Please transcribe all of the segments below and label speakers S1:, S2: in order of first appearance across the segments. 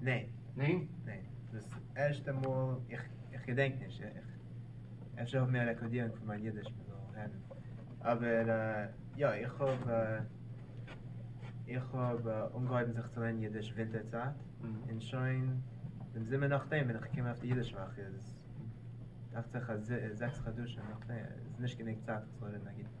S1: ניין.
S2: ניין? ניין.
S1: דאס
S2: ערשטע מאל, איך געדענק נישט, אפשר האבן מיר א רעקארדירונג פון מיין אידיש מען זאל הערן, אבער יא, איך האב איך האב אנגעהויבן זיך צו לערנען אידיש ווינטער צייט, און שוין דעם זומער נאכדעם בין איך געקומען אויף די אידיש וואך, איז דאכט זיך אז זעקס חדשים נאכדעם, איז נישט גענוג צייט איך זאל רעדן א גוטן.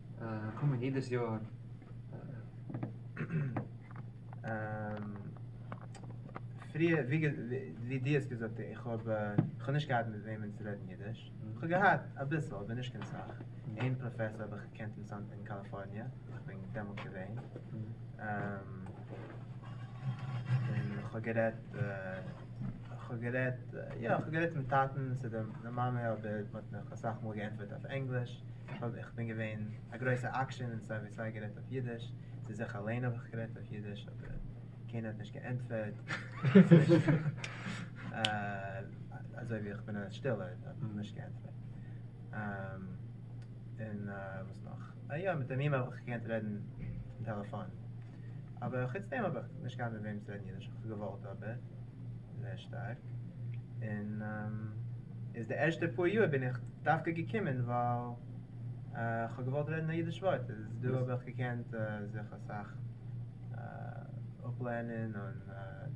S1: קומען
S2: יעדעס יאר פריער ווי ווי דו האסט געזאגט איך האב איך האב נישט געהאט מיט וועמען צו רעדן אידיש איך האב געהאט אביסל אבער נישט קיין סאך איין פראפעסאר האב איך געקענט אין סאן אין קאליפארניע איך בין דעמאלט געווען און איך האב גערעדט איך האב גערעדט יא איך האב גערעדט צום טאטן צו די מאמע אבער מען האט מיך אסאך מאל געענטפערט אויף ענגליש איך בין געווען א גרויסע עקשן און סיי ווי סיי גערעדט אויף אידיש, צו זיך אליין האב איך גערעדט אויף אידיש אבער קיינער האט נישט געענטפערט, אזוי ווי איך בין א שטילער האט מען נישט געענטפערט, און וואס נאך, אה יא מיט דעם אימעיל האב איך געקענט רעדן טעלעפאן, אבער חוץ דעם האב איך נישט געהאט מיט וועם צו רעדן אידיש, איך האב געוואלט אבער. זייער שטארק, און איז די ערשטע פאר יאר בין איך דווקא געקומען ווייל איך האב געוואלט רעדן א אידיש ווארט, איז דא האב איך געקענט זיך אסאך אפלערנען און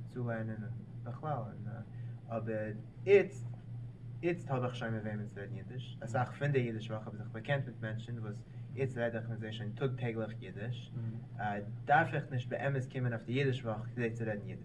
S2: צולערנען און בכלל, און אבער איצט איצט האב איך שוין מיט וועמען צו רעדן אידיש, אסאך פון די אידיש וואך האב איך זיך באקענט מיט מענטשן וואס איצט רעד איך מיט זיי שוין טאג טעגליך אידיש, דארף איך נישט באמת קומען אויף די אידיש וואך כדי צו רעדן אידיש.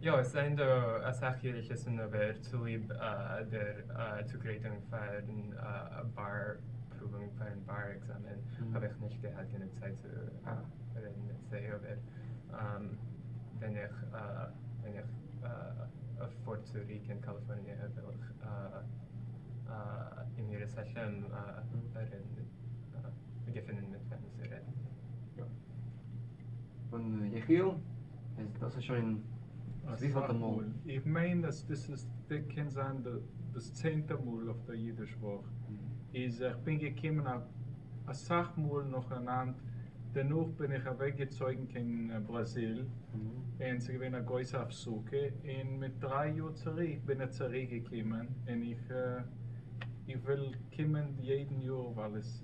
S1: יא, עס זענען דא
S3: אסאך יריקות אין אובער צוליב דער צוגרייטונג פארן באר פרואוונג, פארן באר עקזאמען האב איך נישט געהאט גענוג צייט צו רעדן מיט זיי, אבער ווען איך ווען איך פאר צוריק אין קאליפארניע וועל איך אם ירצה השם רעדן מיט, געפינען מיט וועם צו רעדן. און
S1: יחיאל? איז דאס איז שוין וויפעלטע מאל? איך מיין אז דאס
S4: איז די קען זיין דאס צענטע מאל אויף דער אידיש וואך איז איך בין געקומען אסאך מאל נאכאנאנד דערנאך בין איך אוועק געצויגן קיין בראזיל און ס'איז געווען א גרויסע הפסקה און מיט דריי יאר צוריק בין איך צוריק געקומען און איך איך וויל קומען יעדן יאר ווייל עס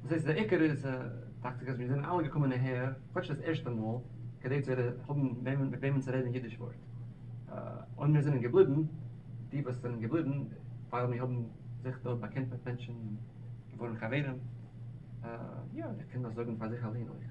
S1: וואס
S2: הייסט די
S1: עיקר איז דאכט זיך אז מיר זענען אלע געקומען אהער כאטש דאס ערשטע מאל כדי צו האבן וועמען מיט וועמען צו רעדן אידיש ווארט און מיר זענען געבליבן די וואס זענען געבליבן ווייל מיר האבן זיך דארט באקענט מיט מענטשן און געווארן חברים יא איך קען דאס זאגן פאר זיך אליין אויך.